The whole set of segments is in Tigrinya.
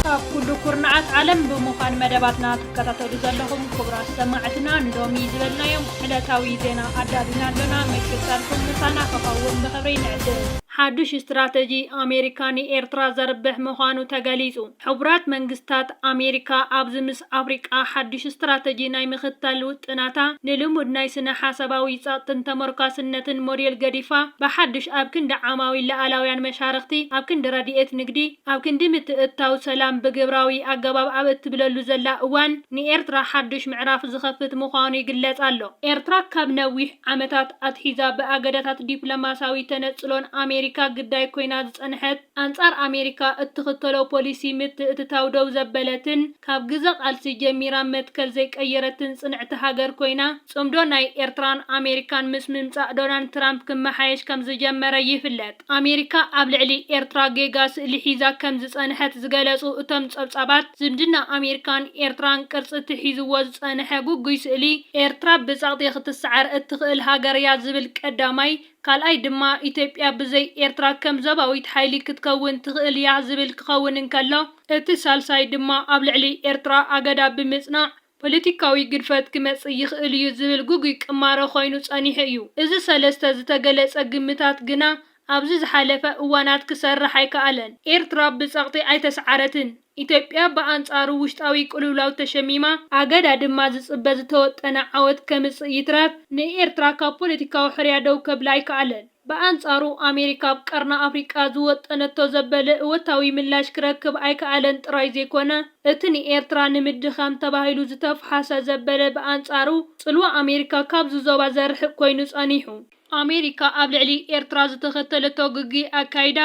ካብ ኩሉ ኩርናዓት ዓለም ብምዃን መደባትና ትከታተሉ ዘለኹም ክቡራት ሰማዕትና ንሎሚ ዝበልናዮም ዕለታዊ ዜና ኣዳሊና ኣሎና። ምክትታልኩም ምሳና ክኸውን ብኽብሪ ንዕድም። ሓዱሽ ስትራተጂ ኣሜሪካ ንኤርትራ ዘርብሕ ምዃኑ ተገሊጹ። ሕቡራት መንግስታት ኣሜሪካ ኣብዚ ምስ ኣፍሪቃ ሓድሽ ስትራተጂ ናይ ምኽታል ውጥናታ ንልሙድ ናይ ስነ ሓሳባዊ ጸቕጥን ተመርኳስነትን ሞዴል ገዲፋ ብሓድሽ ኣብ ክንዲ ዓማዊል ልኣላውያን መሻርኽቲ ኣብ ክንዲ ረዲኤት ንግዲ ኣብ ክንዲ ምትእትታው ሰላም ብግብራዊ ኣገባብ ኣብ እትብለሉ ዘላ እዋን ንኤርትራ ሓድሽ ምዕራፍ ዝኸፍት ምዃኑ ይግለጽ ኣሎ። ኤርትራ ካብ ነዊሕ ዓመታት ኣትሒዛ ብኣገዳታት ዲፕሎማስያዊ ተነጽሎን ኣሜሪካ ግዳይ ኮይና ዝጸንሐት፣ ኣንጻር ኣሜሪካ እትኽተሎ ፖሊሲ ምትእትታው ደው ዘበለትን ካብ ግዘ ቃልሲ ጀሚራ መትከል ዘይቀየረትን ጽንዕቲ ሃገር ኮይና፣ ጽምዶ ናይ ኤርትራን ኣሜሪካን ምስ ምምጻእ ዶናልድ ትራምፕ ክመሓየሽ ከም ዝጀመረ ይፍለጥ። ኣሜሪካ ኣብ ልዕሊ ኤርትራ ጌጋ ስእሊ ሒዛ ከም ዝጸንሐት ዝገለጹ እቶም ጸብጻባት፣ ዝምድና ኣሜሪካን ኤርትራን ቅርጺ እቲ ሒዝዎ ዝጸንሐ ግጉይ ስእሊ፣ ኤርትራ ብጸቕጢ ክትሰዓር እትኽእል ሃገር'ያ ዝብል ቀዳማይ፣ ካልኣይ ድማ ኢትዮጵያ ብዘይ ኤርትራ ከም ዞባዊት ሓይሊ ክትከውን ትኽእል እያ ዝብል ክኸውን እንከሎ፣ እቲ ሳልሳይ ድማ ኣብ ልዕሊ ኤርትራ ኣገዳ ብምጽናዕ ፖለቲካዊ ግድፈት ክመጽእ ይኽእል እዩ ዝብል ግጉይ ቅማረ ኮይኑ ጸኒሑ እዩ። እዚ ሰለስተ ዝተገለጸ ግምታት ግና ኣብዚ ዝሓለፈ እዋናት ክሰርሕ ኣይከኣለን። ኤርትራ ብጸቕጢ ኣይተስዓረትን። ኢትዮጵያ ብኣንጻሩ ውሽጣዊ ቅልውላው ተሸሚማ፣ ኣገዳ ድማ ዝጽበ ዝተወጠነ ዓወት ከምጽእ ይትረፍ ንኤርትራ ካብ ፖለቲካዊ ሕርያ ደው ከብላ ኣይከኣለን። ብኣንጻሩ ኣሜሪካ ኣብ ቀርኒ ኣፍሪቃ ዝወጠነቶ ዘበለ እወታዊ ምላሽ ክረክብ ኣይከኣለን ጥራይ ዘይኮነ፣ እቲ ንኤርትራ ንምድኻም ተባሂሉ ዝተፍሓሰ ዘበለ ብኣንጻሩ ጽልዋ ኣሜሪካ ካብዚ ዞባ ዘርሕቕ ኮይኑ ጸኒሑ። ኣሜሪካ ኣብ ልዕሊ ኤርትራ ዝተኸተለቶ ግጉይ ኣካይዳ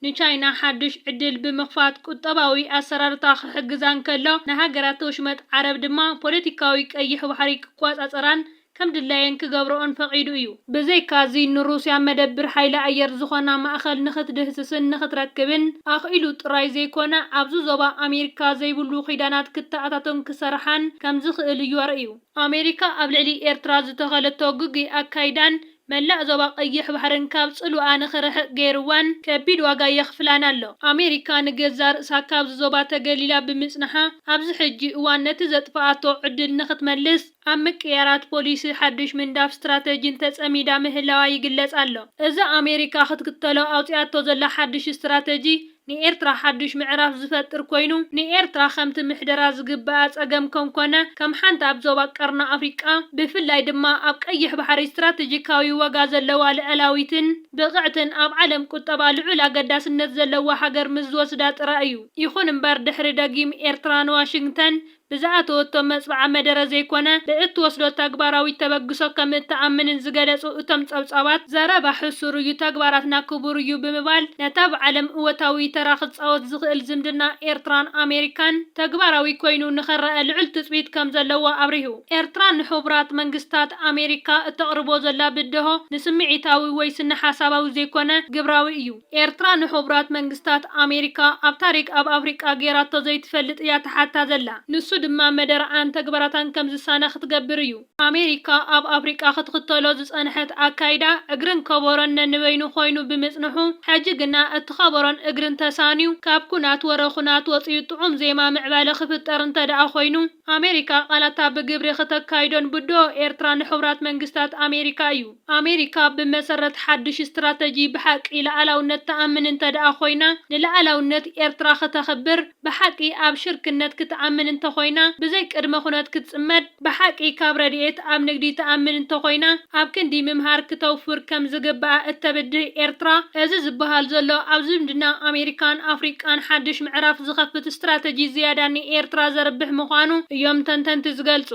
ንቻይና ሓዱሽ ዕድል ብምኽፋት ቁጠባዊ ኣሰራርታ ክሕግዛ እንከሎ፣ ንሃገራት ወሽመጥ ዓረብ ድማ ፖለቲካዊ ቀይሕ ባሕሪ ክቆጻጸራን ከም ድላየን ክገብርኦን ፈቒዱ እዩ። ብዘይካ'ዚ ንሩስያ መደብር ሓይሊ ኣየር ዝኾና ማእከል ንኽትድህስስን ንኽትረክብን ኣኽኢሉ ጥራይ ዘይኮነ፣ ኣብዚ ዞባ ኣሜሪካ ዘይብሉ ኪዳናት ክተኣታቶን ክሰርሓን ከም ዝኽእል እዩ ኣርእዩ። ኣሜሪካ ኣብ ልዕሊ ኤርትራ ዝተኸለቶ ግጉይ ኣካይዳን መላእ ዞባ ቀይሕ ባሕርን ካብ ጽልዋኣ ንኽርሕቕ ገይርዋን ከቢድ ዋጋ የኽፍላን ኣሎ። ኣሜሪካ ንገዛእ ርእሳ ካብዚ ዞባ ተገሊላ ብምጽንሓ፣ ኣብዚ ሕጂ እዋን ነቲ ዘጥፍኣቶ ዕድል ንኽትመልስ ኣብ ምቅይያራት ፖሊሲ፣ ሓድሽ ምንዳፍ ስትራተጂን ተጸሚዳ ምህላዋ ይግለጽ ኣሎ። እዚ ኣሜሪካ ክትክተሎ ኣውጺኣቶ ዘላ ሓድሽ ስትራተጂ፣ ንኤርትራ ሓዱሽ ምዕራፍ ዝፈጥር ኮይኑ፣ ንኤርትራ ከምቲ ምሕደራ ዝግበኣ ጸገም ከም ኮነ፣ ከም ሓንቲ ኣብ ዞባ ቀርኒ ኣፍሪቃ፣ ብፍላይ ድማ ኣብ ቀይሕ ባሕሪ ስትራተጂካዊ ዋጋ ዘለዋ ልኣላዊትን ብቕዕትን ኣብ ዓለም ቁጠባ ልዑል ኣገዳስነት ዘለዋ ሃገር ምስ ዝወስዳ ጥራይ እዩ። ይኹን እምበር ድሕሪ ደጊም ኤርትራ ንዋሽንግተን ብዝኣተወቶ መፅብዓ መደረ ዘይኮነ ብእትወስዶ ተግባራዊት ተበግሶ ከምእትኣምንን ዝገለፁ እቶም ፀብፃባት፣ ዘረባ ሕሱር እዩ ተግባራትና ክቡር እዩ ብምባል ነቲ ኣብ ዓለም እወታዊ ተራ ክፃወት ዝኽእል ዝምድና ኤርትራን ኣሜሪካን ተግባራዊ ኮይኑ ንኽረኣ ልዑል ትፅቢት ከምዘለዎ ኣብሪሁ። ኤርትራ ንሕቡራት መንግስታት ኣሜሪካ እተቕርቦ ዘላ ብደሆ ንስምዒታዊ ወይ ስነሓሳባዊ ዘይኮነ ግብራዊ እዩ። ኤርትራ ንሑቡራት መንግስታት ኣሜሪካ ኣብ ታሪክ ኣብ ኣፍሪቃ ጌራቶ ዘይትፈልጥ እያ ትሓታ ዘላ ንሱ ድማ መደረኣን ተግባራታን ከም ዝሳነ ክትገብር እዩ ኣሜሪካ ኣብ ኣፍሪቃ ክትክተሎ ዝጸንሐት ኣካይዳ እግርን ከቦሮን ነንበይኑ ኮይኑ ብምጽንሑ ሕጂ ግና እቲ ከቦሮን እግርን ተሳንዩ ካብ ኩናት ወረ ኩናት ወጽዩ ጥዑም ዜማ ምዕባለ ክፍጠር እንተደኣ ኮይኑ ኣሜሪካ ቃላታ ብግብሪ ክተካይዶን ብድሆ ኤርትራ ንሕቡራት መንግስታት ኣሜሪካ እዩ። ኣሜሪካ ብመሰረት ሓድሽ ስትራተጂ ብሓቂ ልኣላውነት ትኣምን እንተድኣ ኮይና፣ ንልኣላውነት ኤርትራ ክተኽብር፣ ብሓቂ ኣብ ሽርክነት ክትኣምን እንተኾይና፣ ብዘይ ቅድመ ኩነት ክትጽመድ፣ ብሓቂ ካብ ረድኤት ኣብ ንግዲ ትኣምን እንተኾይና፣ ኣብ ክንዲ ምምሃር ክተውፍር ከም ዝግብኣ እተብድህ ኤርትራ፣ እዚ ዝበሃል ዘሎ ኣብ ዝምድና ኣሜሪካን ኣፍሪቃን ሓድሽ ምዕራፍ ዝኸፍት ስትራተጂ ዝያዳ ንኤርትራ ዘርብሕ ምዃኑ እዮም ተንተንቲ ዝገልጹ።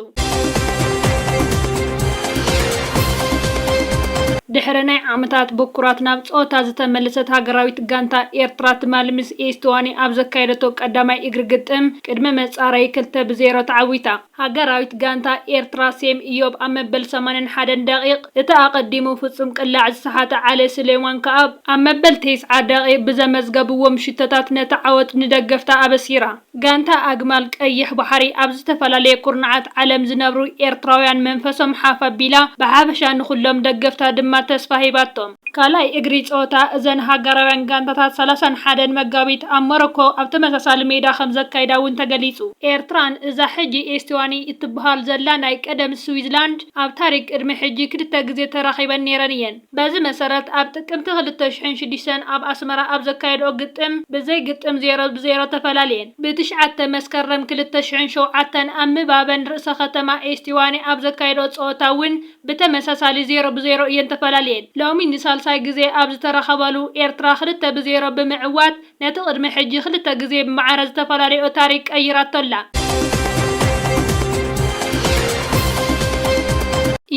ድሕሪ ናይ ዓመታት ብኩራት ናብ ጸወታ ዝተመልሰት ሃገራዊት ጋንታ ኤርትራ ትማሊ ምስ ኤስቶዋኒ ኣብ ዘካየደቶ ቀዳማይ እግሪ ግጥም ቅድመ መጻረዪ ክልተ ብ ዜሮ ተዓዊታ። ሃገራዊት ጋንታ ኤርትራ፣ ሴም እዮብ ኣብ መበል ሰማንያን ሓደን ደቒቕ፣ እቲ ኣቐዲሙ ፍጹም ቅላዕ ዝሰሓተ ዓሊ ሱሌማን ከኣ ኣብ መበል ቴስዓ ደቒቕ ብዘመዝገብዎም ሽቶታት ነቲ ዓወት ንደገፍታ ኣበሲራ። ጋንታ ኣግማል ቀይሕ ባሕሪ፣ ኣብ ዝተፈላለየ ኩርናዓት ዓለም ዝነብሩ ኤርትራውያን መንፈሶም ሓፍ ኣቢላ፣ ብሓፈሻ ንኹሎም ደገፍታ ድማ ተስፋ ሂባቶም። ካልኣይ እግሪ ፀወታ እዘን ሃገራውያን ጋንታታት ሰላሳን ሓደን መጋቢት ኣብ ሞሮኮ ኣብ ተመሳሳሊ ሜዳ ከምዘካይዳ እውን ተገሊፁ። ኤርትራን እዛ ሕጂ ኤስቲዋኒ እትበሃል ዘላ ናይ ቀደም ስዊዝላንድ ኣብ ታሪክ ቅድሚ ሕጂ ክልተ ግዜ ተራኺበን ነይረን እየን። በዚ መሰረት ኣብ ጥቅምቲ ክልተ ሽሕን ሽዱሽተን ኣብ ኣስመራ ኣብ ዘካየድኦ ግጥም ብዘይ ግጥም ዜሮ ብ ዜሮ ተፈላልየን። ብ ትሽዓተ መስከረም ክልተ ሽሕን ሸውዓተን ኣብ ምባበን ርእሰ ከተማ ኤስቲዋኒ ኣብ ዘካየድኦ ፀወታ እውን ብተመሳሳሊ ዜሮ ብዜሮ እየን ተፈላልየን። ሎሚ ንሳልሳይ ግዜ ኣብ ዝተራኸባሉ፣ ኤርትራ ክልተ ብዜሮ ብምዕዋት ነቲ ቅድሚ ሕጂ ክልተ ግዜ ብማዕረ ዝተፈላልየኦ ታሪክ ቀይራቶ ኣላ።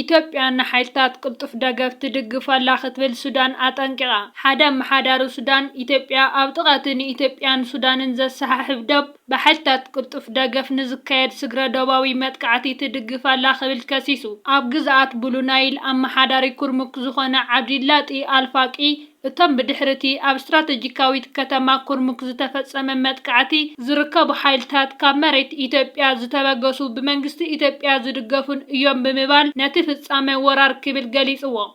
ኢትዮጵያ ንሓይልታት ቅልጡፍ ደገፍ ትድግፍ ኣላ ክትብል ሱዳን ኣጠንቂቓ። ሓደ ኣመሓዳሪ ሱዳን፣ ኢትዮጵያ ኣብ ጥቓ'ቲ ንኢትዮጵያን ሱዳንን ዘሰሓሕብ ዶብ፣ ብሓይልታት ቅልጡፍ ደገፍ ንዝካየድ ስግረ-ዶባዊ መጥቃዕቲ ትድግፍ ኣላ ክብል ከሲሱ። ኣብ ግዝኣት ብሉ ናይል ኣመሓዳሪ ኩርሙክ ዝዀነ ዓብዲላጢ ኣልፋቂ፣ እቶም ብድሕሪ'ቲ ኣብ ስትራተጂካዊት ከተማ ኩርሙክ ዝተፈጸመ መጥቃዕቲ ዝርከቡ ሓይልታት ካብ መሬት ኢትዮጵያ ዝተበገሱ ብመንግስቲ ኢትዮጵያ ዝድገፉን እዮም ብምባል ነቲ ፍጻመ ወራር ክብል ገሊጽዎ።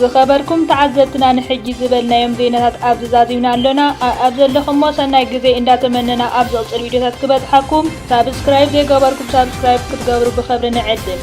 ዝኸበርኩም ተዓዘብትና ንሕጂ ዝበልናዮም ዜናታት ኣብዚ ዛዚምና ኣሎና ኣኣብ ዘለኹሞ ሰናይ ግዜ እንዳ ተመነና ኣብ ዝቕጽል ቪድዮታት ክበጽሓኩም ሳብስክራይብ ዘይገበርኩም ሳብስክራይብ ክትገብሩ ብኸብሪ ንዕድም።